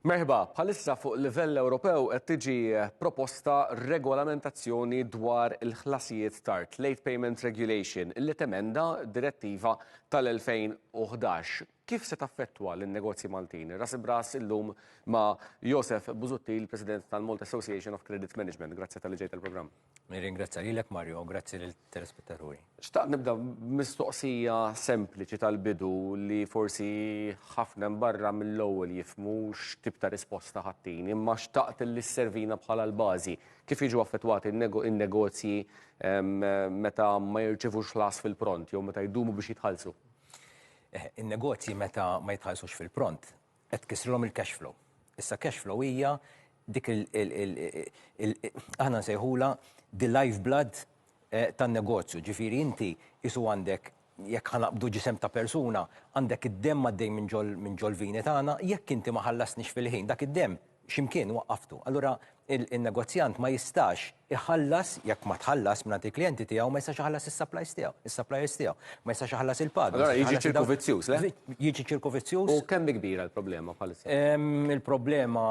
Merħba, bħalissa fuq livell Ewropew qed tiġi proposta regolamentazzjoni dwar il-ħlasijiet tard, Late Payment Regulation, illi temenda direttiva tal-2011. Kif se taffettwa lin-negozji Maltin? Ras b'ras illum ma' Josef Busuttil, President tal-Malta Association of Credit Management. Grazzi tal-li ġejt għall-programm. Nirringrazzja lilek Mario u grazzi lill-telespettaturi. Xtaqt nibda mistoqsija sempliċi tal-bidu li forsi ħafna barra mill-ewwel jifmu x'tip ta' risposta ħattini, imma xtaqt li sservina bħala l-bażi. Kif jiġu affettwati n-negozji ehm, meta ma jirċivux las fil-pront jew meta jdumu biex jitħallsu? Eh, in-negozji meta ma jitħallsux fil-pront Qed tkissrilhom il-cash flow. Issa cash flow hija dik il, aħna nsejħulha the life blood tan-negozju. Ġifieri inti qisu għandek, jekk ħa naqbdu ġisem ta' persuna, għandek id-demm għaddej minn ġol-vini tagħna, jekk inti ma ħallasnix fil-ħin dak id-demm, xi mkien waqqaftu. Allura in-negozjant ma jistax iħallas, jekk ma tħallas mingħand il-klijenti tiegħu, ma jistax iħallas is-supplies tiegħu, is-suppliers tiegħu. Ma jistax iħallas il-pagi. Allura jiġi ċirku vizzjuż, le? Jiġi ċirku vizzjuż. U kemm kbira l-problema bħalissa? Il-problema,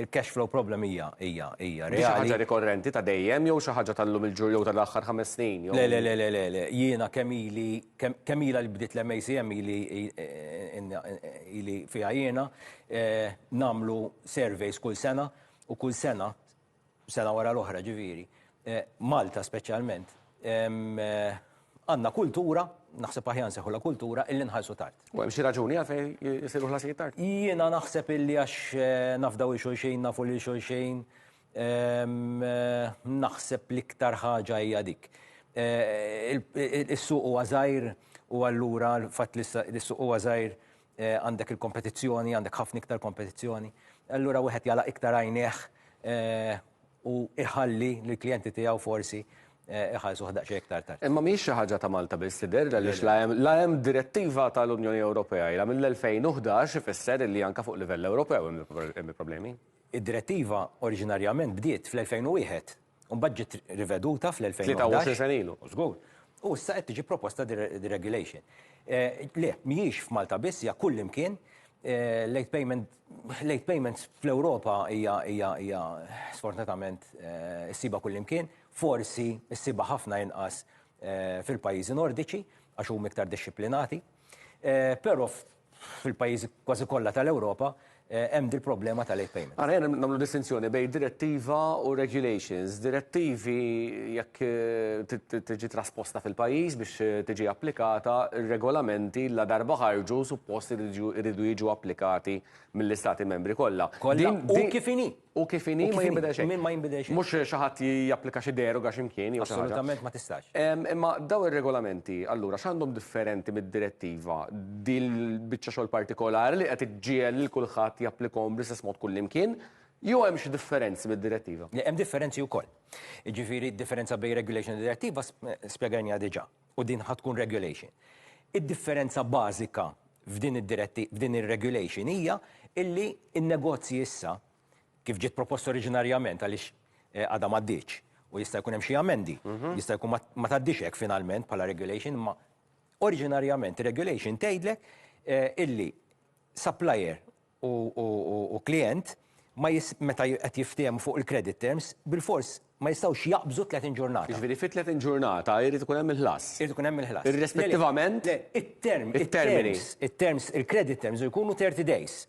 il-cash flow problem hija, hija, hija reali. Xi ħaġa rikorrenti ta' dejjem jew xi ħaġa tal-lum il-ġur jew tal-aħħar ħames snin? Le, le, le, le, le, le. Jiena kemm ili, kemm ilha li bdiet l-MACM ili fiha jiena, nagħmlu surveys kull sena u kull sena, sena wara l-oħra ġifieri, Malta speċjalment, għandna kultura, naħseb aħjar nsejħulha kultura, illi nħallsu tard. U hemm xi raġuni għalfejn isiru ħlasijiet tard? Jiena naħseb illi għax nafdaw lil xulxin, nafu lil xulxin, naħseb l-iktar ħaġa hija dik. Is-suq huwa żgħir u allura l-fatt li s-suq huwa żgħir eh, għandek il-kompetizzjoni, għandek ħafna iktar kompetizzjoni, allura wieħed jala iktar għajneħ eh, u iħalli l-klijenti tiegħu forsi eh, iħallsu ħdaq xi iktar tard. Imma mhix xi ħaġa ta' Malta biss li derra li la hemm direttiva tal-Unjoni Ewropea ila mill-2011 ifisser li anka fuq livell Ewropew hemm problemi. Id-direttiva oriġinarjament bdiet fl-2001 U mbagħad ġiet riveduta fl-2011. 23 sena ilu. Żgur. U issa qed tiġi proposta deregulation. Eh, le, mhijiex f'Malta biss, hija kullimkien eh, late payment late payments fl-Ewropa hija hija hija sfortunatament eh, issiba kullimkien, forsi issiba ħafna inqas fil-pajjiżi nordiċi għax huma iktar dixxiplinati. Però fil-pajjiżi kważi kollha tal-Ewropa hemm dil-problema ta' late payment. Għana jena namlu distinzjoni bej direttiva u regulations. Direttivi jekk tiġi trasposta fil-pajjiż biex tiġi applikata, regolamenti la darba ħarġu suppost iridu jiġu applikati mill-istati membri kollha. Kollha u kif inhi. U kif inhi ma jinbidel xejn. Min ma jinbidel xejn. Mhux xi ħadd japplika xi deroga xi mkien jew xi ħaġa. Assolutament ma tistax. Imma dawn ir-regolamenti allura x'għandhom differenti mid-direttiva din il-biċċa xogħol partikolari li qed iġġiegħel lil kulħadd japplikahom bl-istess mod kullimkien jew hemm xi differenzi mid-direttiva? Le, hemm differenzi wkoll. Jiġifieri d-differenza bejn regulation u direttiva spjegajniha diġà. u din ħa tkun regulation. Id-differenza bażika f'din id-diretti, f'din ir-regulation hija illi n-negozji issa, kif ġiet proposta oriġinarjament għaliex għadha m'għaddietx u jista' jkun hemm xi amendi, jista' jkun ma tgħaddix hekk finalment bħala regulation, imma oriġinarjament ir-regulation tgħidlek illi supplier u klijent ma meta qed jiftiehmu fuq il-credit terms, bilfors ma jistgħux jaqbżu 30 ġurnata. Jiġifieri fi 30 ġurnata jrid ikun hemm il-ħlas. Irid ikun hemm il-ħlas. Irrispettivament. Le, it-term, it-termini, it-terms, il-credit terms jkunu 30 days.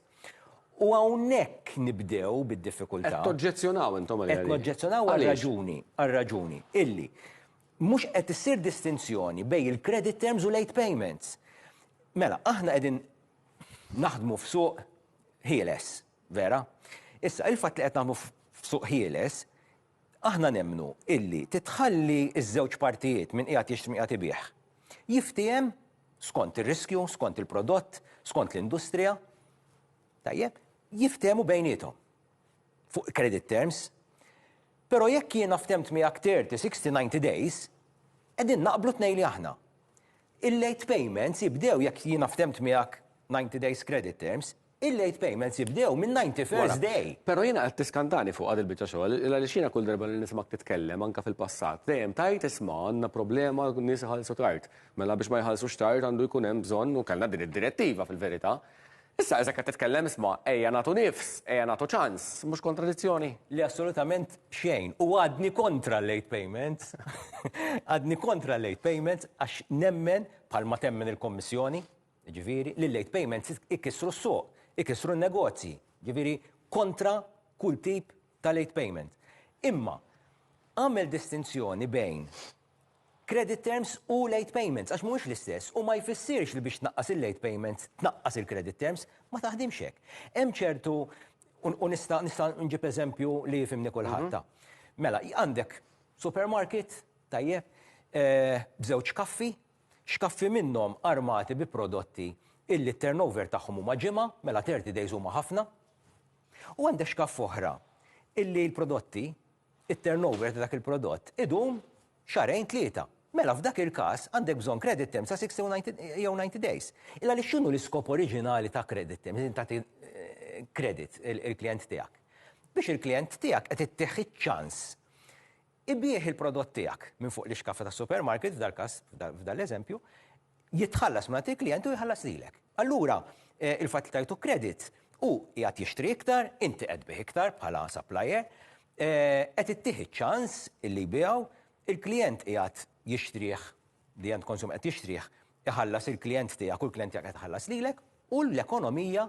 U hawnhekk nibdew bid-diffikultà. Qed toġġezzjonaw intom għalija. Qed noġġezzjonaw għal raġuni, għal raġuni illi mhux qed issir distinzjoni bejn il-credit terms u late payments. Mela, aħna qegħdin naħdmu f'suq ħieles, vera? Issa, il-fatt li qed naħdmu f'suq ħieles, aħna nemmnu illi titħalli ż-żewġ partijiet, min qiegħed jixtri min qiegħed ibigħ, jiftiehem skont ir-riskju, skont il-prodott, skont l-industrija, tajjeb, jiftehmu bejniethom. fuq credit terms, pero jekk jiena ftemt miegħek 30, 60, 90 days, qegħdin naqblu tnej li aħna. Il-late payments jibdew jekk jiena ftemt miegħek 90 days credit terms, il-late payments jibdew minn 91st day. Pero jiena qed tiskantani fuqha dil-biċċa xogħol, għaliex jiena kull darba li nismak titkellem anke fil-passat, dejjem tgħid isma' għandna problema n-nies iħallsu tard. Mela biex ma jħallsux tard għandu jkun hemm bżonn u kellna din id-direttiva fil-verità. Issa, eżatt qed titkellem, isma', ejja nagħtu nifs, ejja nagħtu ċans, mhux kontradizzjoni? Le assolutament xejn, u għadni kontra l-late payments, għadni kontra l-late payments għax nemmen, bħalma temmen il-Kummissjoni, jiġifieri, li l-late payments ikissru s-suq, ikissru n-negozji, jiġifieri kontra kull tip ta' late payment. Imma għamel distinzjoni bejn credit terms u late payments għax mhuwiex l-istess u ma jfissirx li biex tnaqqas il-late payments tnaqqas il-credit terms, ma taħdimx hekk. Hemm ċertu u nista' nista' nġib eżempju li jifhimni kulħadd. Mela, għandek supermarket, tajjeb, b'żewġ kaffi, x'kaffi minnhom armati bi prodotti illi t-turnover tagħhom huma ġimgħa, mela thirty days huma ħafna, u għandek x'kaff oħra illi l-prodotti it-turnover ta' dak il-prodott idum xahrejn, tlieta, mela f'dak il-każ għandek bżonn credit terms ta' 60 u 90 jew 90 days. Illa għaliex x'inhu l-iskop oriġinali ta' credit terms, li tagħti credit il-klijent tiegħek? Biex il-klijent tiegħek qed ittih iċ-ċans ibigħ il-prodott tiegħek minn fuq l-ixkaffa tas-supermarket, f'dal-każ, f'dan l-eżempju, jitħallas minn għand il-klijent u jħallas lilek. Allura, il-fatt li tajtu kredit, hu qiegħed jixtri iktar, inti qed tbigħ iktar bħala supplier, qed ittih iċ-ċans illi jbiegħu, il-klijent qiegħed jixtrih, the end consumer qed jixtrih, iħallas il-klijent tiegħek u l-klijent tiegħek qed iħallas lilek u l-ekonomija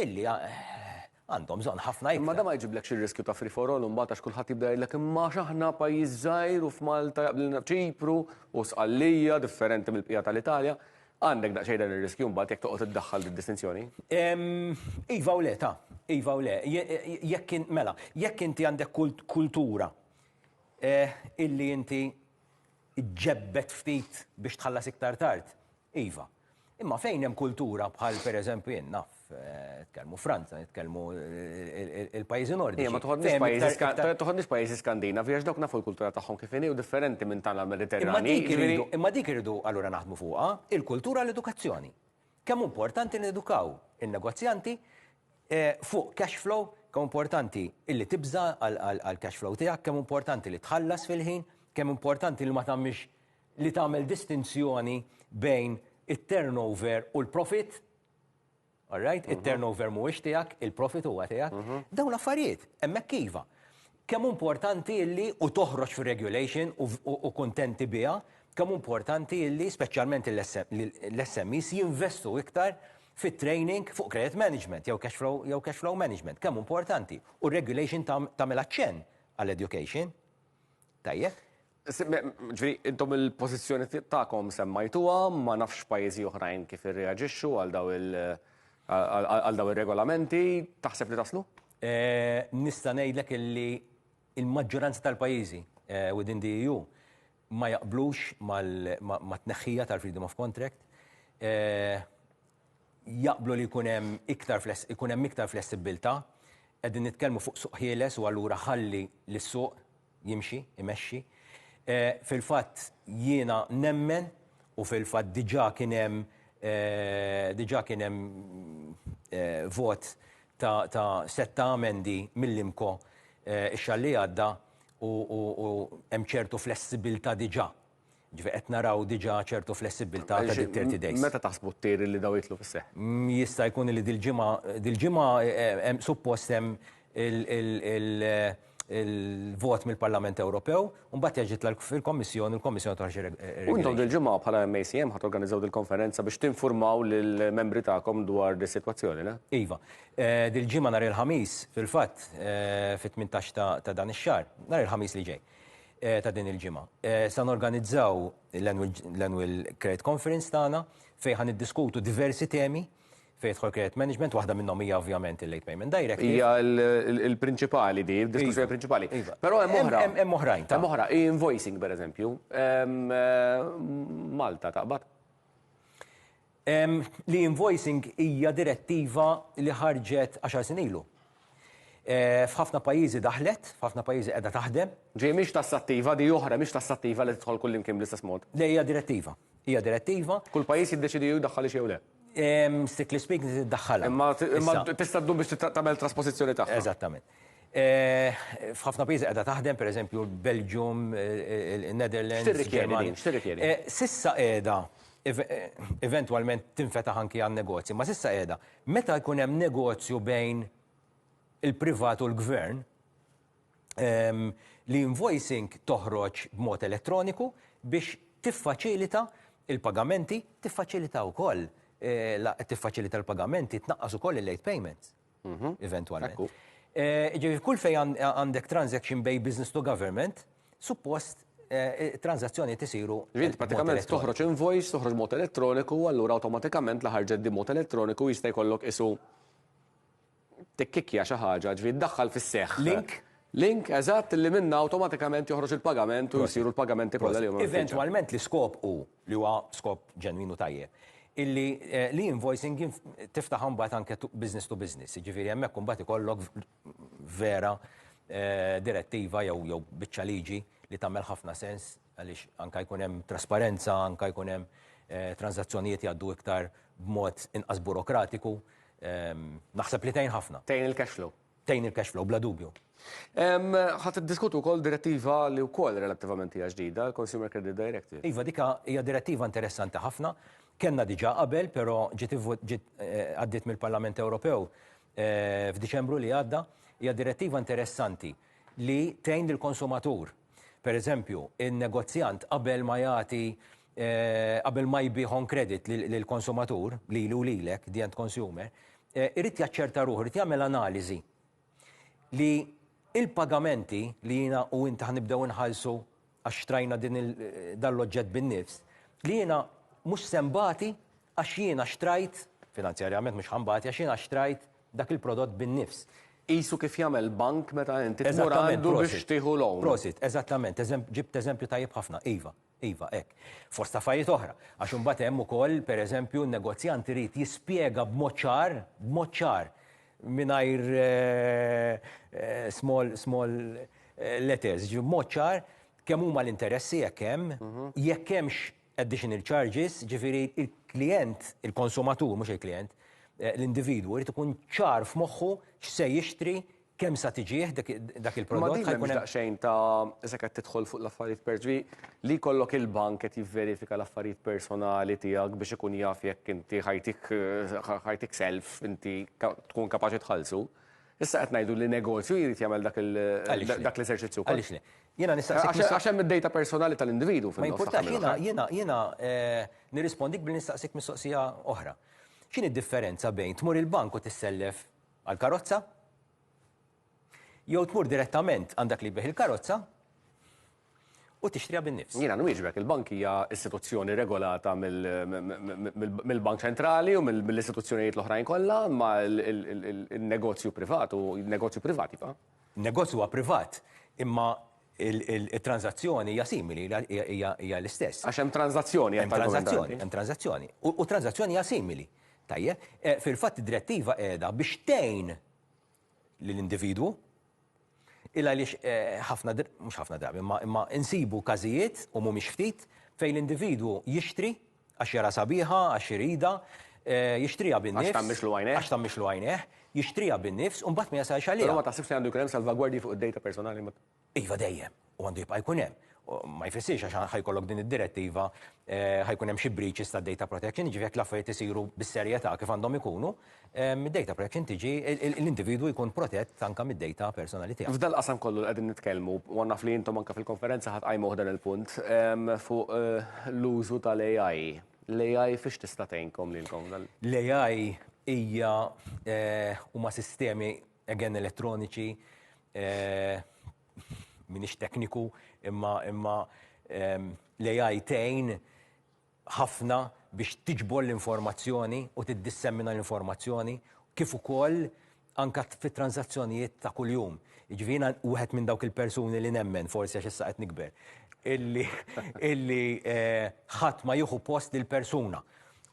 illi għandhom bżonn ħafna iktar. Imma dan ma jġiblekx ir-riskju ta' free for all imbagħad għax kulħadd jibda jgħidlek imma għax aħna pajjiż żgħir u f'Malta jaqblilna Ċipru u Sqallija differenti mill-bqija tal-Italja. Għandek daqsxejn dan ir-riskju mbagħad jekk toqgħod iddaħħal did-distinzjoni? Iva u le, ta. Iva u le. Jekk mela, jekk inti għandek kultura illi inti Iġġebbed ftit biex tħallas iktar tard? Iva. Imma fejn hemm kultura bħal pereżempju jien naf, nitkellmu Franza, nitkellmu il-pajjiżi Nordiċi. Jien ma toħodniex pajjiżi, toħodniex pajjiżi Skandinavi għax dawk nafu l-kultura tagħhom kif inhi u differenti minn tagħna Mediterranji. Imma dik irridu allura naħdmu fuqha, il-kultura l-edukazzjoni. Kemm hu importanti nedukaw in-negozjanti fuq cash flow, kemm hu importanti illi tibża' għall-cash flow tiegħek, kemm hu importanti li tħallas fil-ħin, kemm hu importanti li ma tagħmilx li tagħmel distinzjoni bejn it-turnover u l-profitt. Alright? It-turnover mhuwiex tiegħek, il-profitt huwa tiegħek. Dawn l-affarijiet hemmhekk iva. Kemm hu importanti illi, u toħroġ fir-regulation u kuntenti biha, kemm hu importanti illi, speċjalment l-SMEs jinvestu iktar fit-training fuq credit management jew cash flow management, kemm hu importanti. U r-regulation tagħmilha ċenn għall-education. Tajjeb? Ġifieri intom il-pożizzjoni tagħkom semmajtuha, ma nafx pajjiżi oħrajn kif irreaġixxu għal dawn il- għal dawn ir-regolamenti. Taħseb li taslu? Nista' ngħidlek illi l-maġġoranza tal-pajjiżi within the EU ma jaqblux mat-tneħħija tal-freedom of contract. Jaqblu li jkun hemm iktar ikun hemm iktar flessibbiltà. Qegħdin nitkellmu fuq suq ħieles u allura ħalli lis-suq jimxi, imexxi. Fil-fatt jiena nemmen u fil-fatt diġà kien hemm diġà kien hemm vot ta' sett ta' amendi mill-IMCO x-xahar li għadda u hemm ċertu flessibilità diġà Ġifieri qed naraw diġà ċertu flessibbiltà ta' dik 30 days. Meta taħsbu t-tir li dawn jidħlu fis-seħħ? Jista' jkun li dil-ġimgħa, dil-ġimgħa hemm suppost hemm il-vot mill-Parlament Ewropew, u mbagħad jerġa' jitla' fil-Kommissjoni u l-Kommissjoni toħroġ ir-regolament. U intom dil-ġimgħa bħala MACM ħa torganiżżaw dil-konferenza biex tinfurmaw lill-membri tagħkom dwar dis-sitwazzjoni, le? Iva. Dil-ġimgħa nhar il-Ħamis, fil-fatt, fit-tmintax ta' dan ix-xahar, nhar il-Ħamis li ġej. ta' din il-ġimgħa. Se norganizzaw l-Annual Credit Conference tagħna fejn ħa niddiskutu diversi temi fejn jidħol credit management, waħda minnhom hija ovvjament il-Late Payment Directive. Hija l-prinċipali din, id-diskussjoni prinċipali. Però hemm oħra. Hemm oħrajn. Hemm oħra, e-invoicing pereżempju. Malta taqbad? L-e-invoicing hija direttiva li ħarġet għaxar snin ilu. F'ħafna pajjiżi daħlet, f'ħafna pajjiżi qiegħda taħdem. Ġifieri mhix tassattiva, di oħra, mhix tassattiva li tidħol kullimkien bl-istess mod. Le hija direttiva. Hija direttiva. Kull pajjiż jiddeċiedi jew jdaħħalhiex jew le. Strictly speaking trid iddaħħalha. Imma tista' ddum biex tagħmel traspożizzjoni tagħha. Eżattament. F'ħafna pajjiżi qiegħda taħdem, pereżempju l-Belġium, in-Netherlands. X'tirrikjedi din? X'tirrikjedi? S'issa qiegħda, eventwalment tinfetaħ anki għan-negozji, imma s'issa qiegħda. Meta jkun hemm negozju bejn il-privat u l-gvern, l-e-invoicing toħroġ b'mod elettroniku biex tiffaċilita l-pagamenti, tiffaċilita wkoll, tiffaċilita l-pagamenti, tnaqqas ukoll il-late payments. mhm. eventwalment. Ġifieri kull fejn għandek transaction bej business to government, suppost eh, transazzjoni tisiru. Ġiet pratikament toħroġ invoice, toħroġ mod elettroniku, allura awtomatikament la ħarġet di mod elettroniku jista' jkollok isu tikkikja xi ħaġa, ġifieri daħħal fis-seħħ. Link Link, eżatt, li minna automatikament joħroġ il-pagament u jisiru l-pagamenti kollha li Eventualment l-iskop u li huwa skop ġenwin u tajjeb, illi l-e-invoicing tiftaħha mbagħad anke business to business, jiġifieri hemmhekk imbagħad ikollok vera direttiva jew biċċa liġi li tagħmel ħafna sens għaliex anke jkun hemm trasparenza, anke jkun hemm transazzjonijiet jgħaddu iktar b'mod inqas burokratiku, naħseb li tgħin ħafna. Tgħin il-cash flow. tgħin il-cash flow bla dubju. Ħa tiddiskutu wkoll direttiva li wkoll relattivament hija ġdida, il-Consumer Credit Directive. Iva, dik hija direttiva interessanti ħafna. Kellna diġà qabel, però ġiet għaddiet mill-Parlament Ewropew f'Diċembru li għadda. Hija direttiva interessanti li tgħin lill-konsumatur. Pereżempju, in-negozjant qabel ma jagħti qabel ma jbigħ on credit lill-konsumatur, lili u lilek, the end consumer, irid jaċċerta ruħu, irid jagħmel analiżi li l-pagamenti li jiena u int ħa nibdew inħallsu għax xtrajna dan l-oġġett bin-nifs, li jiena mhux se nbati għax jiena xtrajt, finanzjarjament mhux ħa nbati għax jiena xtrajt dak il-prodott bin-nifs. Qisu kif jagħmel bank meta inti tmur għandu biex tieħu loan. Prosit, eżattament, ġibt eżempju tajjeb ħafna, iva. Iva, hekk. Fost affarijiet oħra. Għax imbagħad hemm ukoll, per eżempju, n-negozjant irid jispjega b'mod ċar, b'mod ċar, mingħajr small, small letters, ġifieri b'mod ċar kemm huma l-interessi jekk hemm, jekk hemmx additional charges, ġifieri l-klijent, il-konsumatur, mhux il-klijent, l-individwu jrid ikun ċar f'moħħu x'se jixtri Kemm sa tiġih dik dak Ma il-prodott din ħa jkun m'hemmx hemm daqsxejn ta' issa qed tidħol fuq l-affarijiet per ġvi li jkollok il-bank qed jivverifika l-affarijiet personali tiegħek biex ikun jaf jekk inti ħajtik ħa ħajtik self inti ka tkun kapaċi tħallsu. Issa qed ngħidu li negozju jrid jagħmel dak il Għaliex le? dak l-eżerċizzju wkoll. Għaliex le? Jiena nistaqsik Għax mistoq għax hemm id-dejta personali tal-individwu Ma fin-nofs ta' jimpurtax, jiena mill-aħħar. jiena jiena eh, nirrispondik billi nistaqsik mistoqsija oħra. X'inhi d-differenza bejn tmur il-bank u tissellef għall-karozza, jew tmur direttament għand dak li jbigħ il-karozza u tixtriha bin-nifs. Jiena nwieġbek, il-bank hija istituzzjoni regolata mill-Bank Ċentrali u mill-istituzzjonijiet l-oħrajn kollha, imma n-negozju privat hu negozju privat, iva. Negozju huwa privat, imma it-tranżazzjoni hija simili, hija l-istess. Għax hemm tranżazzjoni, jgħid l-argument ta' Andy. Hemm tranżazzjoni, hemm tranżazzjoni. U t-tranżazzjoni hija simili. Tajjeb? Fil-fatt id-Direttiva qiegħda biex tgħin lill-individwu, il għaliex ħafna, mhux ħafna drabi, imma insibu każijiet, u mhumiex ftit, fejn l-individwu jixtri, Għax jaraha sabiħa, għax iridha, jixtriha bin-nifs. Għax tgħammixlu għajnejh. Għax tgħammixlu għajnejh, jixtriha bin-nifs u mbagħad ma jasalx għaliha. Però ma taħsibx li għandu jkun hemm salvagwardji fuq id-dejta personali? Iva dejjem, u għandu jibqa' jkun hemm. Ma jfissirx għax ħa jkollok din id-direttiva ħa jkun hemm xi breaches tad-data protection, jiġifieri jekk l-affarijiet isiru bis-serjetà kif għandhom ikunu, mid-data protection tiġi l-individwu jkun protett anke mid-data personali tiegħu. F'dal-qasam kollu li qegħdin nitkellmu, u naf li intom anke fil-konferenza ħadd qajmuh dan il-punt, fuq l-użu tal-AI. L-AI fiex tista' tgħinkom lilkom f'dan? L-AI hija, huma sistemi, again, elettroniċi, m'iniex tekniku, imma l-AI tgħin ħafna biex tiġbor l-informazzjoni u tiddissemina l-informazzjoni kif ukoll anke fit-tranżazzjonijiet ta' kuljum. Jiġifieri jiena wieħed minn dawk il-persuni li nemmen, forsi għax issa qed nikber, illi illi ħadd ma jieħu post lill-persuna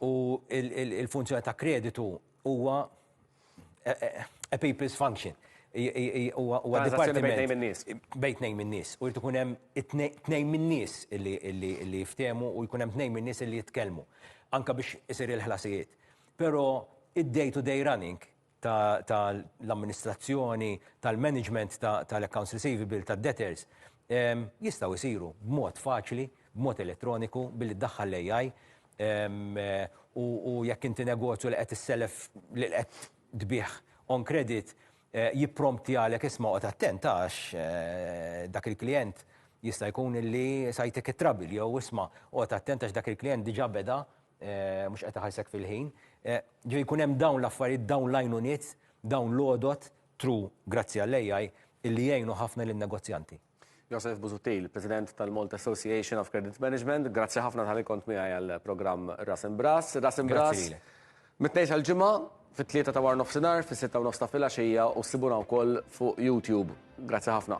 u l-funzjoni ta' kreditu Huwa a people's function. Huwa dipartiment. Bejn nejn nies. Bejn nejn nies. U jrid ikun hemm tnejn minn nies li jiftehmu u jkun hemm tnejn minn nies li jitkellmu. Anka biex isir il-ħlasijiet. Però id-day to day running tal-amministrazzjoni, tal-management tal-accounts receivable, tad-debtors, jistgħu jsiru b'mod faċli, b'mod elettroniku, billi ddaħħal l-AI. u jekk inti negozju li qed issellef li qed tbigħ on credit jipprompti għalek isma' oqgħod attent għax dak il-klijent jista' jkun illi sa jtik it-trouble jew isma' oqgħod attent għax dak il-klijent diġa' beda mhux qed iħallsek fil-ħin. Ġifieri jkun hemm dawn l-affarijiet, dawn l-għajnuniet, dawn l-għodod, through grazzi għall-AI, illi jgħinu ħafna lin-negozjanti. Joseph Busuttil, President tal-Malta Association of Credit Management, grazzi ħafna tal-li kont miegħi għall-programm Ras Imbras. Ras Imbras, mit-tnejn tal-ġimgħa, fit-tlieta ta' war nofsinhar, fis-sitta u nofs ta' filgħaxija u ssibuna wkoll fuq YouTube. Grazzi ħafna.